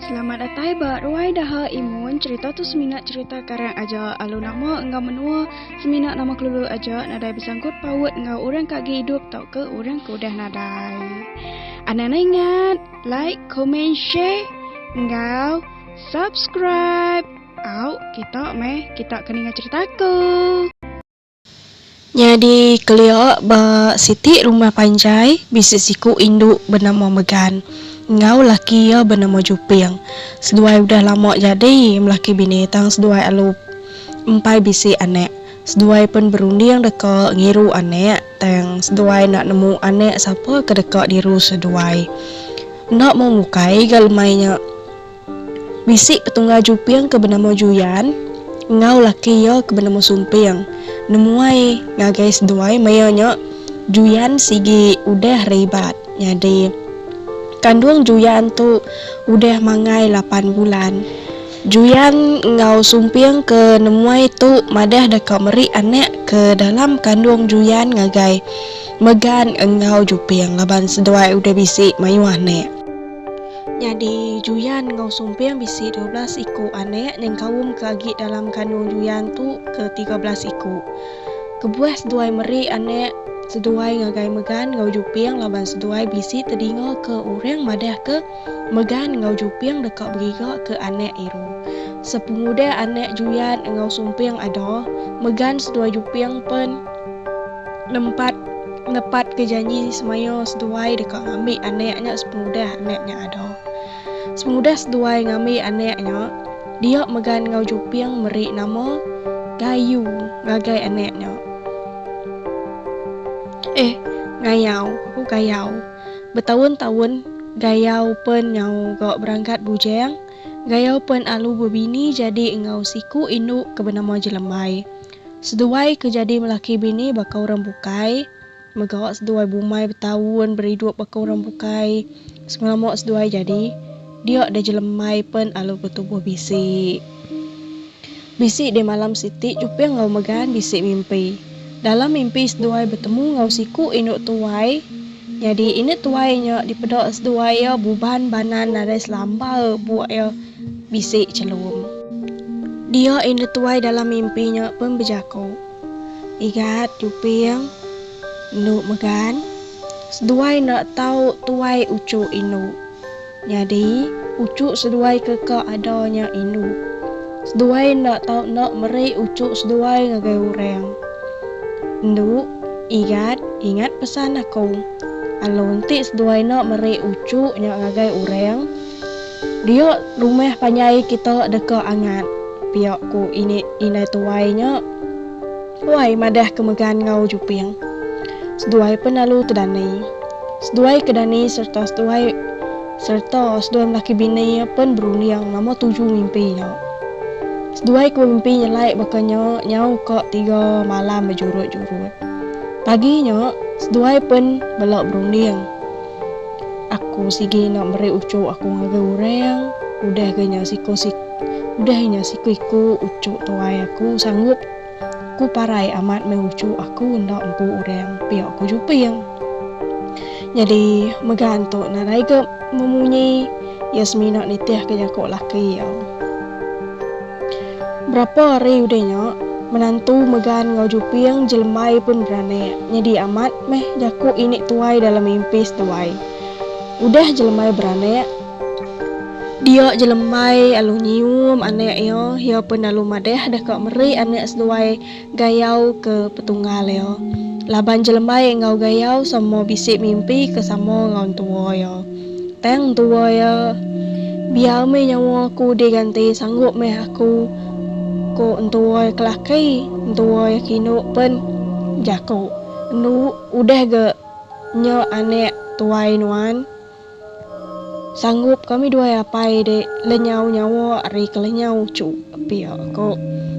Selamat datai ba Ruai Daha Imun. Cerita tu semina cerita karang aja alu nama enggau menua, semina nama kelulu aja nadai besangkut paut enggau orang ka agi idup tauka orang ke udah nadai. Anang ne ingat like, comment, share enggau subscribe. Au kita meh kita ke ninga cerita aku. Nyadi kelia ba siti rumah panjai bisi siku indu benama Megan enggau laki iya benama Juping. Seduai udah lama jadi melaki bini tang seduai alu empai bisi anak. Seduai pen berunding deka ngiru anak tang seduai enda nemu anak sapa ke deka diru seduai. Enda mung ukai ga lemai nya. Bisi petunggal juping ke benama Juyan enggau laki iya ke benama Sumping nemuai ngagai seduai maya nya Juyan sigi udah reibat nyadi. Kandung Juyan tu udah mangai lapan bulan. Juyan enggau Sumping ke nemuai tu madah deka meri anak ke dalam kandung Juyan ngagai Megan enggau Juping laban seduai udah bisi mayuh anak. Nyadi Juyan enggau Sumping bisi dua belas iku anak nyengkaumka agi dalam kandung Juyan tu ke tiga belas iku. Kebuah seduai meri anak, seduai ngagai Megan enggau Juping laban seduai bisi tedingaka orang madahka Megan enggau Juping deka begigaka anak Iru. Sepengudah anak Juyan enggau Sumping ada, Megan seduai Juping pen. Nempat nepatka janji semaya seduai deka ngambi anak nya sepengudah anak nya ada. Sepengudah seduai ngambi anak nya, dia megan enggau Juping meri nama Gayu ngagai anak nya. Eh, Ngayau, aku Gayau. Betaun-taun, Gayau pen nyau ga berangkat bujang. Gayau pen alu bebini jadi enggau siku indu ke benama Jelembai. Seduai ke jadi melaki bini baka orang bukai, mega seduai bumai betaun beridup baka orang bukai, semelama seduai jadi dia deh jelemai pen alu ke tubuh bisi. Bisi deh malam siti juping enggau megan bisi mimpi. Dalam mimpi seduai betemu enggau siku indu tuai, nyadi indu tuai nya dipeda seduai iya buban banan nadai selamba buk iya. Bisi chelum. Dia indu tuai dalam mimpi nya pun bejaku, Igat, Juping, Endu Megan, seduai enda tau tuai uchu indu. Nyadi, uchu seduai ke ka ada nya indu. Seduai enda tau enda meri uchu seduai ngagai orang. Endu, Igat, ingat pesan aku. Alu enti seduai enda meri uchu nya ngagai orang, Dia rumah panjai kita deka angat, pia ku ini indai tuai nya. Wai madah ke megan enggau Juping. Seduai pen lalu tedani. Seduai ke dani sereta seduai sereta seduai melaki bini iya pen berunding nama tuju mimpi nya. Seduai ke bemimpi nyelai baka nya nyau ka tiga malam bejurut-jurut. Pagi nya, seduai pen bela berunding. Aku sigi enda meri uchu aku ngagai urang udah ga nya siku udah nya siku iku uchu tuai aku sanggup ku parai amat meh uchu aku enda empu urang pia ku Juping. Nyadi mega antu nadai ga memunyi iya semina nitih ka jaku laki iya. Berapa hari udah nya, menantu Megan enggau Juping jelembai pun beranak nyadi amat meh jaku ini tuai dalam mimpi seduai. Udah jelembai beranak, dia jelembai alu nyium anak iya, iya pun alu madah deka meri anak seduai Gayau ke petunggal iya. Laban jelembai enggau Gayau sama bisi mimpi ke sama enggau entua iya. Tang entua iya, Biar meh nyawa aku diganti sanggup meh aku, ku entua iya ke laki. Entua iya ke indu pen jaku, Enda udah ga nya anak tuai nuan. Sanggup kami duai apai de lenyau nyawa ari ke lenyau cu, pia ko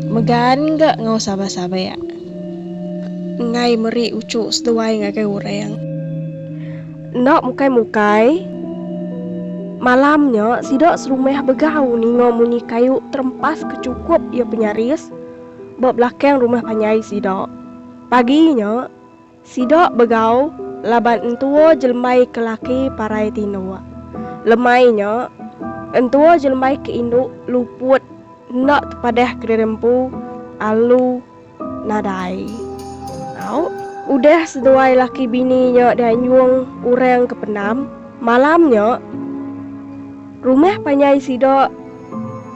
Megan ga enggau Sabah Sabek enggai meri ucu seduai ngagai urang. Enda mukai mukai, malam nya sida serumah begau ninga munyi kayu terempas ke chukup iya penyaris ba belakang rumah panjai sida. Pagi nya. Sida begau laban entua jelembai ke laki parai tinduk. Lemai nya, entua jelembai ke indu luput enda tepadah kediri empu alu nadai. Au. Udah seduai laki bini nya dianjung orang ke pendam, malam nya rumah panjai sida.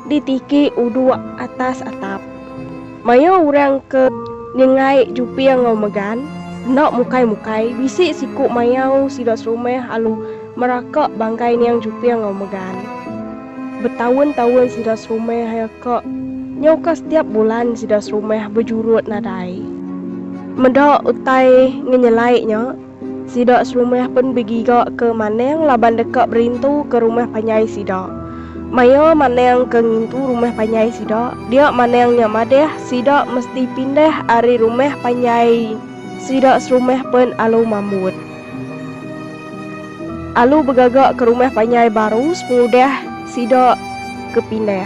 Ditiki uduk atas atap. Mayuh orang ke ningai Juping enggau Megan enda mukai-mukai bisi siku mayau sida serumah alu meraka banggai niang Juping enggau Megan. Betaun-taun sida serumah aya ka nyauka setiap bulan sida serumah bejurut nadai. Meda utai ngenyelai nya. Sida serumah pen begiga ke Manang laban deka berintu ke rumah panjai sida. Maya Manang ke ngintu rumah panjai sida, dia Manang nya madah sida mesti pindah ari rumah panjai sida serumah pen alu mambut. Alu begaga ke rumah panjai baru sepengudah sida ke pindah.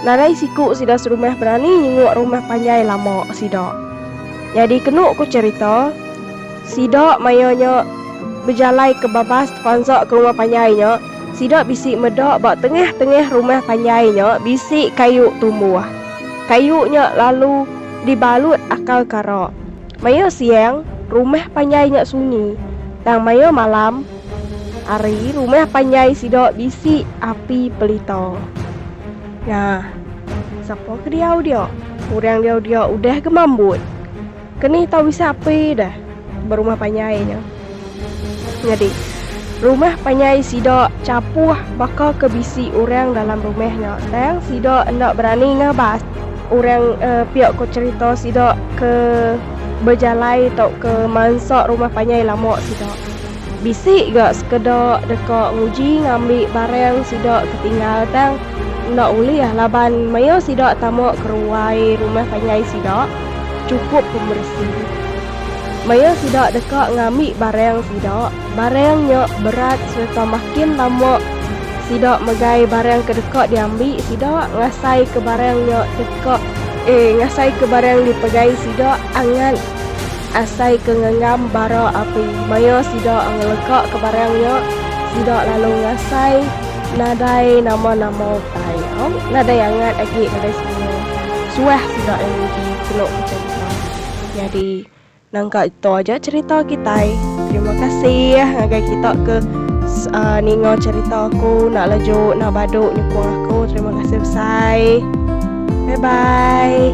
Nadai siku sida serumah berani nyenguk rumah panjai lama sida. Nyadi kenu ku cherita. Sida maya nya bejalai ke babas tepansa ke rumah panjai nya, sida bisi meda ba tengah-tengah rumah panjai nya bisi kayu tumbuh. Kayu nya lalu dibalut akal kara. Maya siang, rumah panjai nya sunyi, tang maya malam hari rumah panjai sida bisi api pelita. Nah, sapa ke diau dia? Orang diau dia udah gemambut. Kenih tau bisi api dah ba rumah panjai nya. Nyadi, rumah panjai sida chapuh baka ke bisi orang dalam rumah nya tang sida enda berani ngabas orang uh, pia ko cerita sida ke bejalai tauka mansa rumah panjai lama sida. Bisi ga sekeda deka nguji ngambi barang sida ketinggal tang enda ulih laban maya sida tama ke ruai rumah panjai sida chukup pemeresi. Maya sida deka ngambi barang sida, barang nya berat sereta makin lama sida megai barang ke deka diambi sida ngasaika barang nya deka eh ngasaika barang dipegai sida angat. Asai ke ngenggam bara api maya sida ngelekaka barang nya, sida lalu ngasai nadai nama-nama utai tau. Nadai angat agi nadai semina. Suah sida lalu nguji kenu becerita. Nyadi nangka ditu aja cerita kitai. Terima kasih ngagai kita ke ninga cerita aku enda laju enda badu nyukung aku. Terima kasih besai. Bye bye.